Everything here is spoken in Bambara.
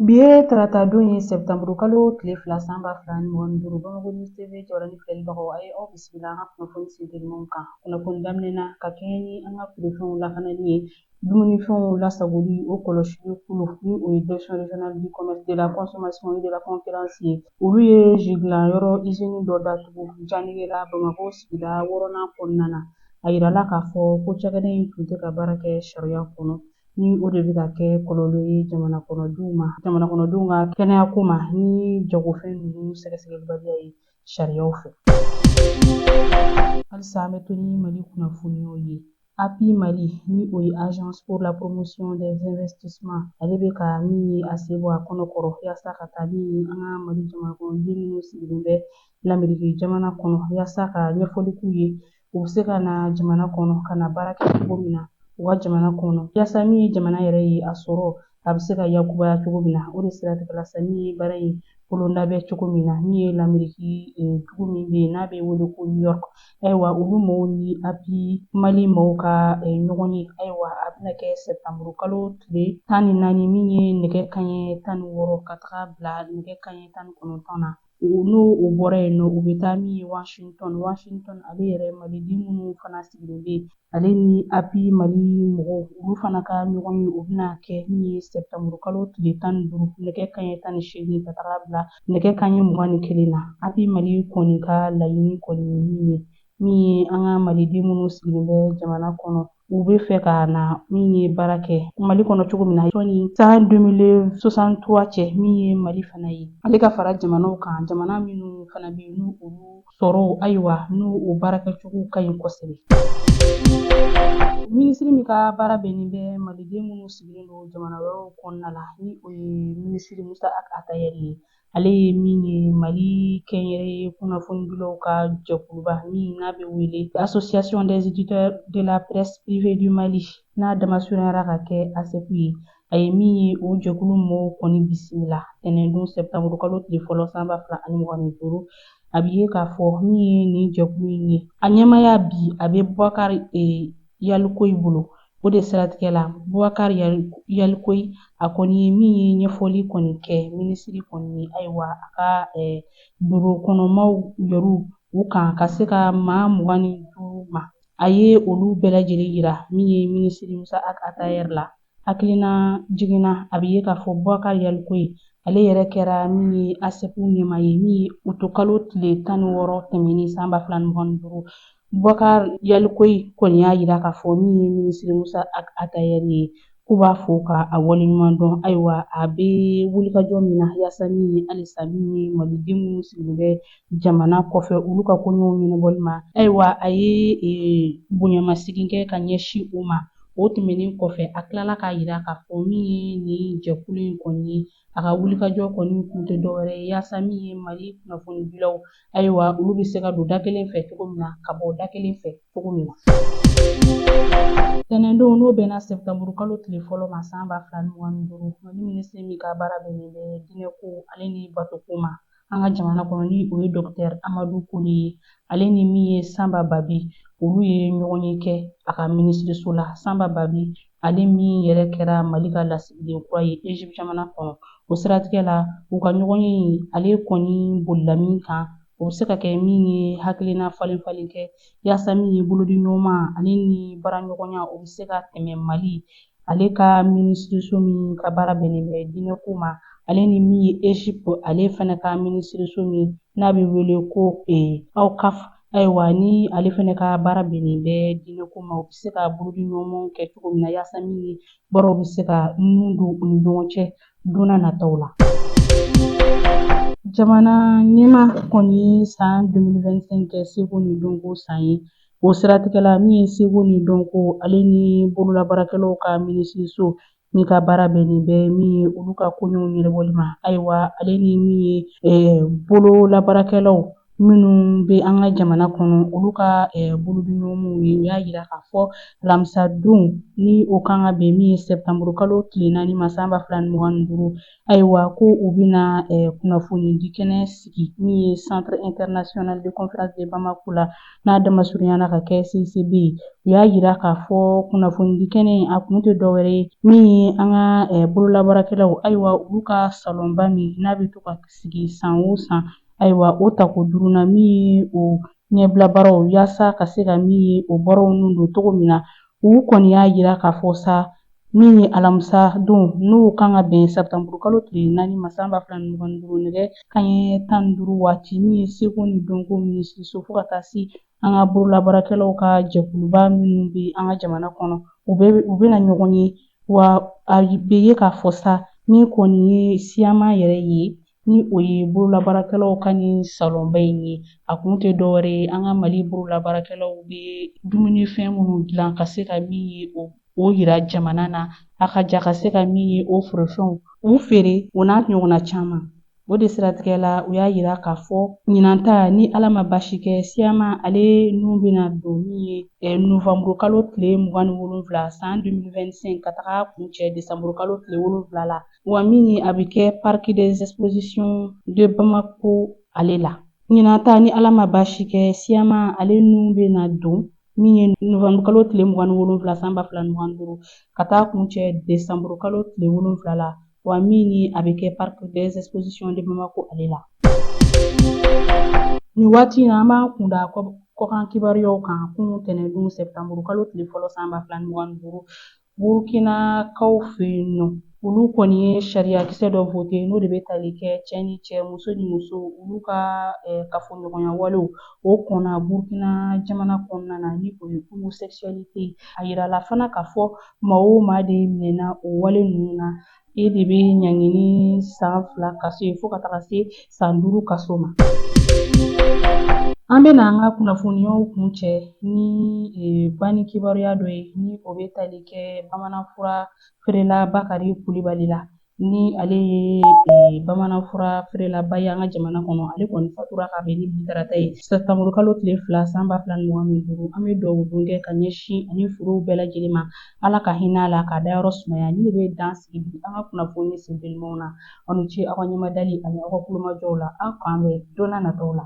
Bi ye tarata don ye sɛptanburu kalo tile fila san ba fila ni mugan ni duuru bamakɔ News TV jɔyɔrɔ ni filɛbagaw a ye aw bisimila an ka kunnafoni sentelimanw kan kunnafoni daminɛ na ka kɛɲɛ ni an ka feerefɛnw lakanani ye dumunifɛnw lasagoli o kɔlɔsili kulu ni o ye direction régionale du commerce de la consommation et de la concurrence ye olu ye ji dilan yɔrɔ izini dɔ datugu janegela bamakɔ sigida wɔɔrɔnan kɔnɔna na a yirala k'a fɔ ko cakɛda in tun tɛ ka baara kɛ sariya kɔnɔ ni o de bɛ ka kɛ kɔlɔlɔ ye jamana kɔnɔdenw ma jamana kɔnɔdenw ka kɛnɛya ko ma ni jagofɛn ninnu sɛgɛsɛgɛlibaliya ye sariyaw fɛ halisa an bɛ to ni mali kunnafoniyaw ye api mali ni o ye agence pour la promotion des investissements ale bɛ ka min ye a sen bɔ a kɔnɔ kɔrɔ yaasa ka taa min ye an ka mali jamanakɔnɔden minnu sigilen bɛ lamerike jamana kɔnɔ yaasa ka ɲɛfɔli k'u ye u bɛ se ka na jamana kɔnɔ ka na baara kɛ cogo min na u ka jamana kɔnɔ yaasa min ye jamana yɛrɛ ye a sɔrɔ a bɛ se ka yakubaya cogo min na o de siratigɛ la sa min ye baara in bolodalen bɛ cogo min na min ye lameriki eh, dugu min bɛ yen n'a bɛ wele ko new york ayiwa olu mɔgɔw ni api mali mɔgɔw ka eh, ɲɔgɔn ye ayiwa a bɛna kɛ sɛtanburu kalo tile tan ni naani min ye nɛgɛ kanɲɛ tan ni wɔɔrɔ ka taga bila nɛgɛ kanɲɛ tan ni kɔnɔntɔn na N'o bɔra yen nɔ u bɛ taa min ye Washington Washington ale yɛrɛ maliden minnu fana sigilen bɛ yen ale ni API Mali mɔgɔw olu fana ka ɲɔgɔn ye o bɛna kɛ min ye sɛptanburu kalo tile tan ni duuru nɛgɛ kanɲɛ tan ni seegin ka taga bila nɛgɛ kanɲɛ mugan ni kelen na API Mali kɔni ka laɲini kɔni ye min ye min ye an ka maliden minnu sigilen bɛ jamana kɔnɔ u bɛ fɛ ka na min ye baara kɛ mali kɔnɔ cogo min na sɔni san 2063 cɛ min ye mali fana ye ale ka fara jamanaw kan jamana minnu fana bɛ yen ni olu sɔrɔ ayiwa n'u baarakɛcogo ka ɲi kosɛbɛ minisiri min ka baara bɛnnen bɛ maliden minnu sigilen don jamana wɛrɛw kɔnɔna la ni o ye minisiri musa atayɛri ye ale ye min ye mali kɛnyɛrɛye kunnafonidilaw ka jɛkuluba min n'a bɛ wele association des éditeurs de la presse privée du mali n'a damasurunyara ka kɛ ASEPU ye a ye min ye o jɛkulu mɔgɔw kɔni bisimila tɛnɛndon sɛptanburu kalo tile fɔlɔ san ba fila ani mugan ni duuru a bɛ ye k'a fɔ min ye nin jɛkulu in ye a ɲɛmaya bi a bɛ bubakari e, yalikoyi bolo O de siratigɛ la Bubakari Yalikoyi a kɔni ye min ye ɲɛfɔli kɔni kɛ minisiri kɔni ye ayiwa a ka biro kɔnɔmaaw yɛrɛ u kan ka se ka maa mugan ni duuru ma a ye olu bɛɛ lajɛlen yira min ye minisiri Musa Atayɛr la hakilinajigin na a bɛ ye k'a fɔ Bubakari Yalikoyi ale yɛrɛ kɛra min ye ASEPU ɲɛmaa ye min ye utukalo tile tan ni wɔɔrɔ tɛmɛnen san ba fila ni mugan ni duuru Bubakari Yalikoyi kɔni y'a yira k'a fɔ min ye minisiri Musa Atayɛri ye k'u b'a fo ka a waleɲuman dɔn ayiwa a bɛ wulikajɔ min na yaasa min ye halisa min ye maliden minnu sigilen bɛ jamana kɔfɛ olu ka koɲɛw ɲɛnabɔli ma ayiwa a ye e, bonyamasegin kɛ ka ɲɛsin u ma o tɛmɛnen kɔfɛ a tilala k'a yira k'a fɔ min ye nin jɛkulu in kɔni ye a ka wulikajɔ kɔni kun tɛ dɔwɛrɛ ye yaasa min ye mali kunnafonidilaw ayiwa olu bɛ se ka don da kelen fɛ cogo min na ka bɔ da kelen fɛ cogo min na tɛnɛndon n'o bɛnna sɛbɛtanburu kalo tile fɔlɔ ma san ba fila ni mugan ni duuru mali minisiri min ka baara bɛnnen bɛ diinɛko ale ni batoko ma an ka jamana kɔnɔ ni o ye dɔkitɛri amadu kone ye ale ni min ye sanba babi olu ye ɲɔgɔnye kɛ a ka minisiriso la sanba babi ale min yɛrɛ kɛra mali ka lasigiden kura ye egypte jamana kɔnɔ o siratigɛ la u ka ɲɔgɔnye ale kɔni bolila min kan o bɛ se ka kɛ min ye hakilina falen falen kɛ yaasa min ye bolodiɲɔgɔnma ale ni baaraɲɔgɔnya o bɛ se ka tɛmɛ mali ale ka minisiriso min ka baara bɛnnen bɛ diinɛko ma ale ni min ye egypte ale fana ka minisiriso min n'a bɛ wele ko e eh, Awqaf Ayiwa ni ale fana ka baara bɛnnen bɛ diinɛko ma o bɛ se ka bolodiɲɔgɔnmaw kɛ cogo min na yaasa min ye baaraw bɛ se ka nun don u ni ɲɔgɔn cɛ don nataw la jamana ɲɛmaa kɔni ye san 2025 kɛ seko ni dɔnko san ye o siratigɛ la min ye seko ni dɔnko ale ni bololabaarakɛlaw ka minisiriso min ka baara bɛnnen bɛ min ye olu ka koɲɛw ɲɛnabɔli ma ayiwa ale ni min ye bololabaarakɛlaw minnu bɛ an ka jamana kɔnɔ olu ka bolodiɲɔgɔnw ye u y'a yira k'a fɔ alamisadon ni o kan ka bɛn min ye sɛptanburu kalo tile naani ma san ba fila ni mugan ni duuru Ayiwa ko u bɛna eh, kunnafoni di kɛnɛ sigi min ye centre international de conférence de Bamako la n'a damasurunyana ka kɛ CICB ye u y'a yira k'a fɔ kunnafoni di kɛnɛ in a kun tɛ dɔwɛrɛ ye min ye an ka eh, bololabaarakɛlaw ayiwa olu ka salonba min n'a bɛ to ka sigi san o san ayiwa o tako duurunan min ye o ɲɛbila baaraw yaasa ka se ka min ye o baaraw nun don cogo min na u kɔni y'a yira k'a fɔ sa min ye alamisa don n'o kan ka bɛn sɛptanburu kalo tile naani ma san ba fila ni mugan ni duuru nɛgɛ kanɲɛ tan ni duuru waati min ye seko ni dɔnko minisiriso fo ka taa se an ka bololabaarakɛlaw ka jɛkuluba minnu bɛ an ka jamana kɔnɔ u bɛna ɲɔgɔn ye wa a bɛ ye k'a fɔ sa min kɔni ye SIAMA yɛrɛ ye ni o ye bololabaarakɛlaw ka nin salonba in ye a kun tɛ dɔwɛrɛ ye an ka mali bololabaarakɛlaw bɛ dumunifɛn minnu dilan ka se ka min ye o yira jamana na a ka ja ka se ka min ye o forofɛnw u feere o n'a ɲɔgɔnna caman o de siratigɛ la u y'a yira k'a fɔ ɲinanta ni ala ma basi kɛ siyama ale nin bɛna don min ye eh, novanburu kalo tile mugan ni wolonwula san 2025 ka taga kuncɛ desanburu kalo tile wolonwula la Wa min ye a bɛ kɛ parc des expositions de Bamako ale la ɲinanta ni ala ma baasi kɛ siyama ale nin bɛna don min ye novanburukalo tile mugan ni wolonwula san ba fila ni mugan ni duuru ka taa kuncɛ desanburukalo tile wolonwula la wa min ye a bɛ kɛ parc des expositions de Bamako ale la nin waati in na an b'an kun da kɔkan kibaruyaw kan kunun tɛnɛndon sɛtanburukalo tile fɔlɔ san ba fila ni mugan ni duuru Burukinakaw fɛ yen nɔ olu kɔni ye sariyakisɛ dɔ vote n'o de bɛ tali kɛ cɛ ni cɛ muso ni muso olu ka kafoɲɔgɔnya walew o kɔnna burukina jamana kɔnɔna na ni o ye homosexualité a yirala fana k'a fɔ maa o maa de minɛna o wale ninnu na E de bɛ ɲangi ni san fila kaso ye fo ka taga se san duuru kaso ma. An bɛna an ka kunnafoniyaw kuncɛ ni e, banni kibaruya dɔ ye ni o bɛ tali kɛ bamananfura feerela Bakari Kulibali la ni ale ye e, bamananfura feerelaba ye an ka jamana kɔnɔ ale kɔni fatura ka bɛn ni bi tarata ye sɛtanburukalo tile fila san ba fila ni mugan ni duuru an bɛ dugawu don kɛ ka ɲɛsin a ni furew bɛɛ lajɛlen ma Ala ka hinɛ a la k'a dayɔrɔ sumaya nin bɛ dan sigi bi an ka kunnafoni sentelimaw na aw ni ce aw ka ɲɛmadali ani aw ka kulomajɔw la aw k'an bɛn don nataw la